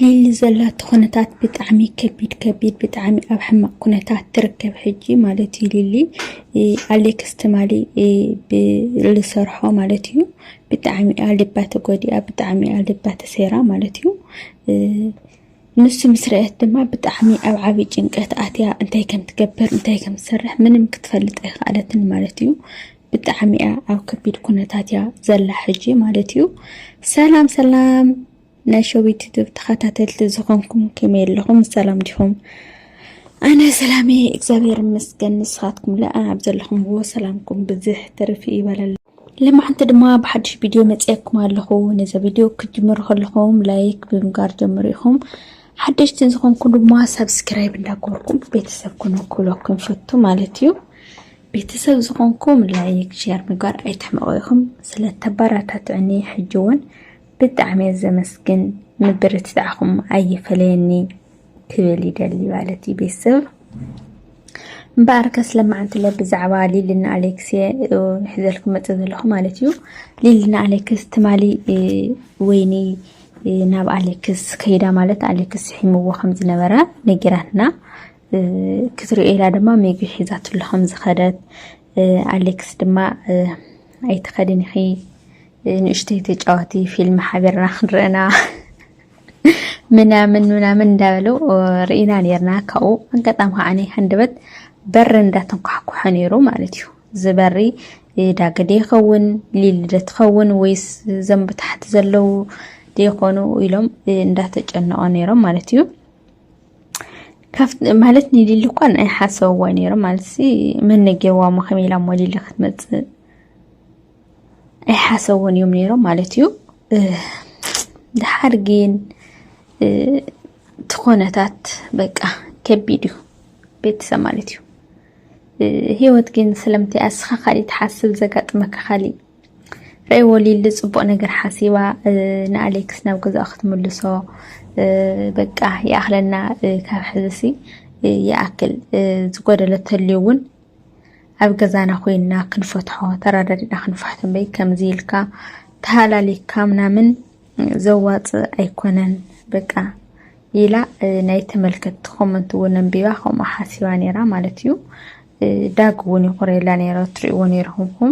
ሊሊ ዘላቶ ኩነታት ብጣዕሚ ከቢድ ከቢድ ብጣዕሚ ኣብ ሕማቅ ኩነታት ትርከብ ሕጂ ማለት እዩ ሊሊ ኣሌክስ ትማሊ ብዝሰርሖ ማለት እዩ ብጣዕሚ እያ ልባ ተጎዲኣ ብጣዕሚ እያ ልባ ተሰይራ ማለት እዩ ንሱ ምስ ረአት ድማ ብጣዕሚ ኣብ ዓብዪ ጭንቀት ኣትያ እንታይ ከም ትገብር እንታይ ከም ትሰርሕ ምንም ክትፈልጥ ኣይከኣለትን ማለት እዩ ብጣዕሚ እያ ኣብ ከቢድ ኩነታት እያ ዘላ ሕጂ ማለት እዩ ሰላም ሰላም ናይ ሸዊት ዩቱብ ተኸታተልቲ ዝኾንኩም ከመይ ኣለኹም ሰላም ዲኹም ኣነ ሰላሜ እግዚኣብሔር ይመስገን ንስኻትኩም ለኣ ኣብ ዘለኹምዎ ሰላምኩም ብዝሕ ትርፊ ይበለሉ ልማዓንቲ ድማ ብሓድሽ ቪድዮ መፅየኩም ኣለኹ ነዚ ቪድዮ ክትጅምሩ ከለኹም ላይክ ብምጋር ጀምሩ ኢኹም ሓደሽቲ ዝኾንኩም ድማ ሰብስክራይብ እንዳገበርኩም ቤተሰብ ኩኑ ክብለኩም ፈቱ ማለት እዩ ቤተሰብ ዝኾንኩም ላይክ ሸር ምግባር ኣይትሕመቑ ኢኹም ስለተበራታትዕኒ ሕጂ እውን ብጣዕሚ እየ ዘመስግን ምብርትታዕኹም ኣይፈለየኒ ክብል ይደሊ ማለት እዩ ቤተሰብ እምበኣር ከስ ለማዓንትለ ብዛዕባ ሊልና ኣሌክስ ንሕዘልኩም መፀ ዘለኹ ማለት እዩ ሊልና ኣሌክስ ትማሊ ወይኒ ናብ ኣሌክስ ከይዳ ማለት ኣሌክስ ስሒምዎ ከም ዝነበረ ነጊራትና ክትሪኦ ኢላ ድማ ምግቢ ሒዛትሉ ከም ዝኸደት ኣሌክስ ድማ ኣይትኸድን ኢኺ ንእሽተይ ተጫዋቲ ፊልም ሓቢርና ክንረአና ምናምን ምናምን እንዳበሉ ርኢና ነርና ካብኡ ኣጋጣሚ ከዓ ሃንደበት በሪ እንዳተንኳሕኩሐ ነይሩ ማለት እዩ እዚ በሪ ዳገደ ይኸውን ሊልደ ትኸውን ወይስ ዘም ብታሕቲ ዘለው ደይኮኑ ኢሎም እንዳተጨነቆ ነይሮም ማለት እዩ ማለት ንሊሊ እኳ ንኣይ ሓሰብዎ ነይሮም ማለት ሲ መነጌዋ መኸም ኢላ ሞ ሊሊ ክትመፅእ ኣይሓሰብዎን እዮም ነይሮም ማለት እዩ ድሓር ግን ትኾነታት በቃ ከቢድ እዩ ቤተሰብ ማለት እዩ ህይወት ግን ስለምንታይ ኣስኻ ካሊእ ትሓስብ ዘጋጥመካ ካሊእ ረይ ወሊሉ ፅቡቅ ነገር ሓሲባ ንኣሌክስ ናብ ገዛኡ ክትምልሶ በቃ ይኣኽለና ካብ ሕዝሲ ይኣክል ዝጎደለ ተልዩ እውን ኣብ ገዛና ኮይና ክንፈትሖ ተረዳዲእና ክንፋሕቶ እምበይ ከምዚ ኢልካ ተሃላሊካ ምናምን ዘዋፅእ ኣይኮነን በቃ ኢላ ናይ ተመልከትቲ ኮመንት እውን ኣንቢባ ከምኡ ሓሲባ ነይራ ማለት እዩ ዳግ እውን ይቑረየላ ነይረ ትሪእዎ ነይርኹምኩም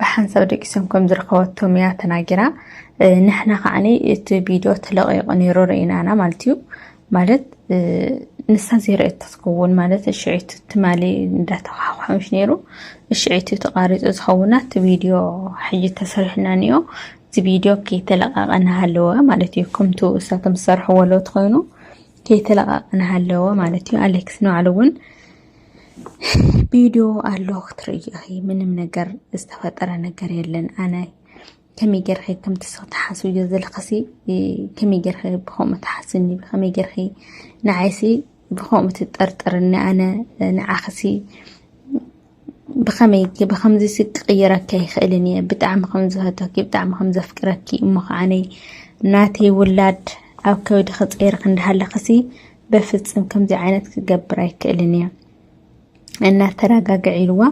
ብሓንሳብ ደቂሶም ከም ዝረኸበቶም እያ ተናጊራ ንሕና ከዓኒ እቲ ቪድዮ ተለቂቑ ነይሩ ርኢናና ማለት እዩ ማለት ንሳ ዘይረእየቶ ትኸውን ማለት እሽዒቱ ትማሊ እንዳተኳሓኳሖምሽ ነይሩ እሽዒቱ ተቃሪፁ ዝኸውና እቲ ቪድዮ ሕጂ ተሰሪሕና ንዮ እቲ ቪድዮ ከይተለቃቀ ናሃለወ ማለት እዩ ከምቲ እሳቶም ዝሰርሕዎ ሎት ኮይኑ ከይተለቃቀ ናሃለወ ማለት እዩ ኣሌክስ ንባዕሉ እውን ቪድዮ ኣሎ ክትርእይ ኢኺ ምንም ነገር ዝተፈጠረ ነገር የለን ኣነ ከመይ ጌርኺ ከም ትስኽ ትሓስብዮ ዘለኽሲ ከመይ ጌርኺ ብከምኡ ትሓስኒ ብከመይ ጌርኺ ንዓይሲ ብከምኡ ትጠርጥርኒ ኣነ ንዓኽሲ ብከመይ ብከምዚሲ ክቅይረካ ይኽእልን እየ ብጣዕሚ ከም ዝፈተኪ ብጣዕሚ ከም ዘፍቅረኪ እሞ ከዓነይ ናተይ ውላድ ኣብ ከብድኺ ፀይርኺ እንዳሃለኽሲ በፍፅም ከምዚ ዓይነት ክገብር ኣይክእልን እያ እናተረጋግዕ ኢልዋ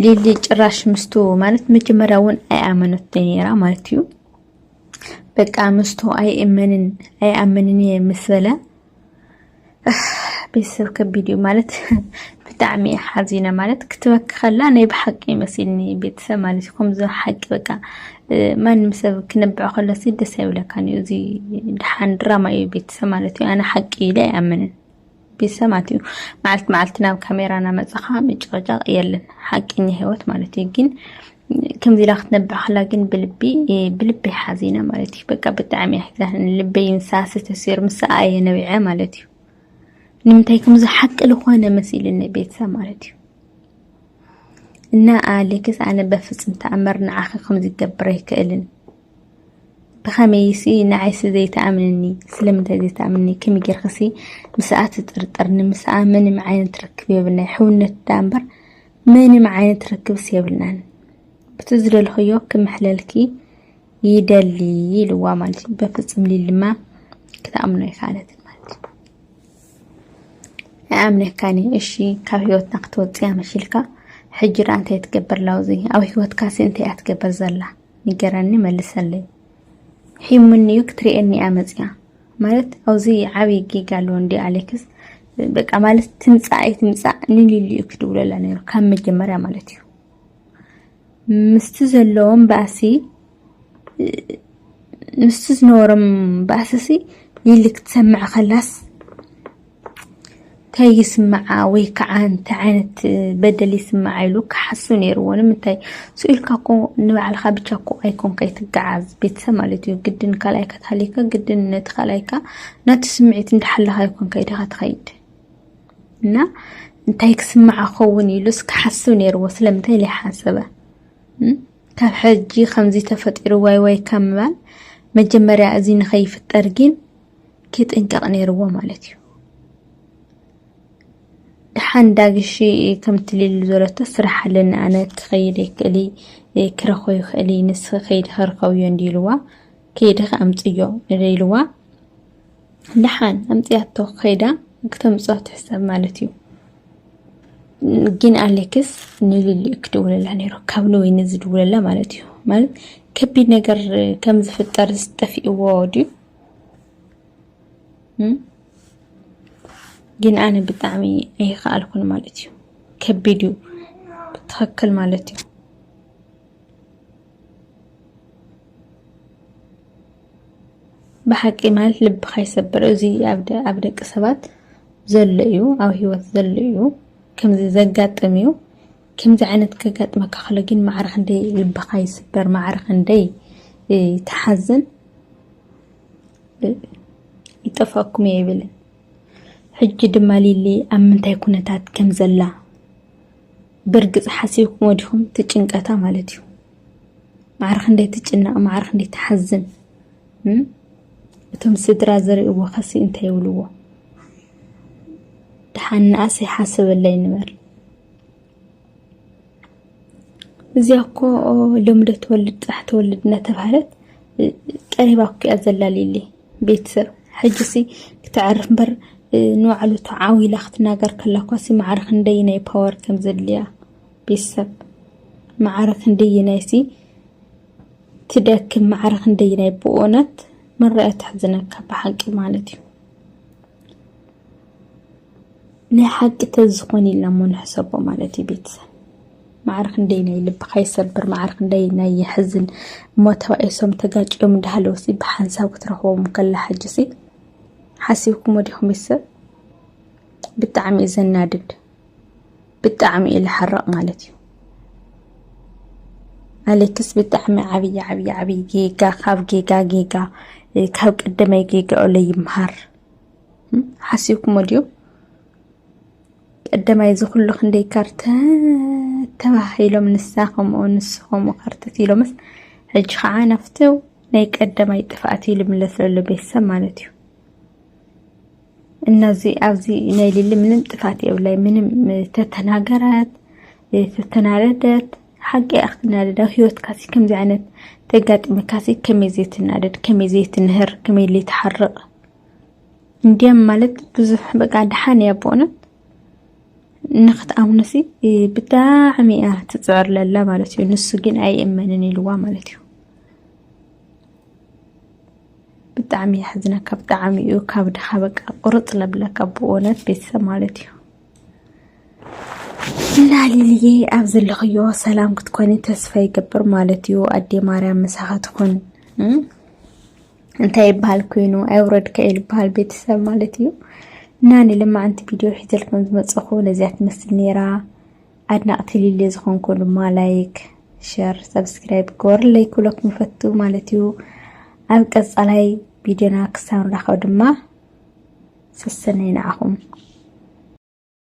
ሊሊ ጭራሽ ምስቱ ማለት መጀመሪያ እውን ኣይኣመነት ነራ ማለት እዩ በቃ ምስቱ ኣይእመንን ኣይኣመንን እየ ምስ በለ ቤተሰብ ከቢድ እዩ ማለት ብጣዕሚ ሓዚነ ማለት ክትበኪ ከላ ናይ ብሓቂ ይመስልኒ ቤተሰብ ማለት እዩ ከምዚ ሓቂ በቃ ማንም ሰብ ክነብዕ ከሎ ደስ ኣይብለካን እዩ እዚ ድሓን ድራማ እዩ ቤተሰብ ማለት እዩ ኣነ ሓቂ ኢለ ኣይኣምንን ቤተሰብ ማለት እዩ መዓልቲ መዓልቲ ናብ ካሜራ ናመፀኻ ምጭቕጫቕ የለን ሓቀኛ ሂወት ማለት እዩ ግን ከምዚ ኢላ ክትነብዕ ከላ ግን ብልቢ ብልቢ ሓዚነ ማለት እዩ በቃ ብጣዕሚ ኣሕዛን ልበይ ንሳ ስተሲር ምሳ ኣየ ነቢዐ ማለት እዩ ንምንታይ ከምዚ ሓቂ ዝኾነ መሲልኒ ቤተሰብ ማለት እዩ እና ኣሌክስ ኣነ በፍጽም ተኣምር ንዓኺ ከምዚ ክገብር ኣይክእልን ብኸመይሲ ንዓይሲ ዘይተኣምንኒ ስለምንታይ ዘይተኣምንኒ ከመይ ጌርክሲ ምስኣ ትጥርጥርኒ ምስኣ ምንም ዓይነት ርክብ የብልና ሕውነት ዳ እምበር ምንም ዓይነት ርክብስ የብልናን ብቲ ዝደልኽዮ ክምሕለልኪ ይደሊ ኢልዋ ማለት እዩ በፍጽም ሊሊ ድማ ክትኣምኖ ኣይከኣለትን ማለት እዩ ኣይኣምነካን እየ እሺ ካብ ህይወትና ክትወፅያ መሲልካ ሕጂ ዳኣ እንታይ ትገብር ኣላ ኣብዚ ኣብ ህይወትካሲ እንታይ እያ ትገብር ዘላ ንገረኒ መልሰለይ ሒሙኒ እዩ ክትርእየኒ እያ መፅያ ማለት ኣብዚ ዓብዪ ጌጋ ኣለዎ እንዲ ኣሌክስ በቃ ማለት ትምፃእ ኣይትምፃእ ንሊሊ እዩ ክትብለላ ነይሩ ካብ መጀመርያ ማለት እዩ ምስቲ ዘለዎም ባእሲ ምስቲ ዝነበሮም ባእሲሲ ሊሊ ክትሰምዕ ከላስ እንታይ ይስምዓ ወይ ከዓ እንታይ ዓይነት በደል ይስምዓ ኢሉ ክሓሱ ነይርዎ ንምንታይ ስኢልካ እኮ ንባዕልካ ብቻ እኮ ኣይኮንካ ይትገዓዝ ቤተሰብ ማለት እዩ ግድን ካልኣይካ ተሃሊካ ግድን ነቲ ካልኣይካ ናቲ ስምዒት እንዳሓለካ ኣይኮንካ ኢደካ ትኸይድ እና እንታይ ክስምዓ ክኸውን ኢሉ እስኪ ሓስብ ነይርዎ ስለምንታይ ዘይሓሰበ ካብ ሕጂ ከምዚ ተፈጢሩ ዋይ ዋይ ካብ ምባል መጀመርያ እዚ ንኸይፍጠር ግን ክጥንቀቕ ነይርዎ ማለት እዩ ድሓን ዳግሺ ከምቲ ሊሉ ዘለቶ ስራሕ ኣለኒ ኣነ ክኸይድ ይክእል ክረኾ ይኽእል ንስ ከይዲ ከርከብዮ እንዲ ኢልዋ ከይዲ ከኣምፅዮ ኢልዋ ደሓን ኣምፅኣቶ ከይዳ ክተምፅኦ ትሕሰብ ማለት እዩ ግን ኣሌክስ ንልሊ እዩ ክድውለላ ነይሩ ካብ ንወይኒ ዝድውለላ ማለት እዩ ማለት ከቢድ ነገር ከም ዝፍጠር ዝጠፊእዎ ድዩ ግን ኣነ ብጣዕሚ ኣይኸኣልኩን ማለት እዩ ከቢድ እዩ ብትክክል ማለት እዩ ብሓቂ ማለት ልብካ ይሰብር እዚ ኣብ ደቂ ሰባት ዘሎ እዩ ኣብ ሂወት ዘሎ እዩ ከምዚ ዘጋጥም እዩ ከምዚ ዓይነት ከጋጥመካ ከሎ ግን ማዕረ ክንደይ ልብካ ይስበር ማዕረ ክንደይ ትሓዝን ይጠፍኣኩም እየ ይብልን ሕጂ ድማ ሊሊ ኣብ ምንታይ ኩነታት ከም ዘላ ብርግጽ ሓሲብክሞ ዲኹም ትጭንቀታ ማለት እዩ ማዕረ ክንደይ ትጭነቕ ማዕረ ክንደይ ትሓዝን እቶም ስድራ ዝርእዎ ከሲ እንታይ ይብልዎ ድሓን ንኣስ ይሓስበላ ይንበር እዚኣ እኮ ሎምደ ትወልድ ጥራሕ ትወልድ እናተባህለት ቀሪባ እኮ እያ ዘላልየለይ ቤተሰብ ሕጂሲ ክተዕርፍ እምበር ንባዕሉ ተዓው ኢላ ክትናገር ከላ እኳሲ ማዕረ ክንደይናይ ፓወር ከም ዘድልያ ቤተሰብ ማዕረ ክንደይናይሲ ትደክም ማዕረ ክንደይናይ ብእውነት መረኣያ ተሕዝነካ ብሓቂ ማለት እዩ። ናይ ሓቂ ተዝኾን ኢልና እሞ ንሕሰቦ ማለት እዩ ቤተሰብ ማዕረ ክንደይ ናይ ልብኻ ይሰብር ማዕረ ክንደይ ናይ የሕዝን እሞ ተባኢሶም ተጋጭዮም እንዳሃለውሲ ብሓንሳብ ክትረኽቦም ከላ ሕጅሲ ሓሲብኩሞ ዲኹም ይሰብ ብጣዕሚ እዩ ዘናድድ ብጣዕሚ እዩ ልሓርቕ ማለት እዩ ኣሌክስ ብጣዕሚ ዓብይ ዓብይ ዓብይ ጌጋ ካብ ጌጋ ጌጋ ካብ ቀደመይ ጌጋኡ ለይምሃር ሓሲብኩሞ ድዩ ቀደማይ እዚ ኩሉ ክንደይ ካርተ ተባሂሎም ንሳ ከምኡ ንሱ ከምኡ ካርተት ኢሎምስ ሕጂ ከዓ ናፍቲ ናይ ቀደማይ ጥፍኣት ኢሉ ምለስ ዘሎ ቤተሰብ ማለት እዩ እነዚ ኣብዚ ናይ ሊሊ ምንም ጥፋት የብላይ ምንም ተተናገረት ተተናደደት ሓቂ እያ ክትናደድ ኣብ ሂወትካ ሲ ከምዚ ዓይነት ተጋጢምካ ሲ ከመይ ዘይትናደድ ከመይ ዘይትንህር ከመይ ዘይትሓርቕ እንዲያም ማለት ብዙሕ በቃ ድሓን እያ ብእውነት ንክትኣምኖ ሲ ብጣዕሚ እያ ትፅዕር ለላ ማለት እዩ ንሱ ግን ኣይእመንን ኢልዋ ማለት እዩ ብጣዕሚ የሕዝነካ ብጣዕሚ እዩ ካብድኻ በቃ ቁርፅ ለብለካ ብእውነት ቤተሰብ ማለት እዩ እና ሊልዬ ኣብ ዘለኽዮ ሰላም ክትኮኒ ተስፋ ይገብር ማለት እዩ ኣዴ ማርያም ምሳኻ ትኹን እንታይ ይበሃል ኮይኑ ኣይውረድካ እዩ ዝበሃል ቤተሰብ ማለት እዩ እና ንልማዓንቲ ቪድዮ ሒዘልኩም ዝመፅኹ ነዚያ ትመስል ነይራ ኣድናቅቲ ሊሊ ዝኮንኩ ድማ ላይክ ሸር ሰብስክራይብ ግበሩለይ ክብለኩም ይፈቱ ማለት እዩ ኣብ ቀጻላይ ቪድዮና ክሳብ ንራኸብ ድማ ሰሰነይ ንዓኹም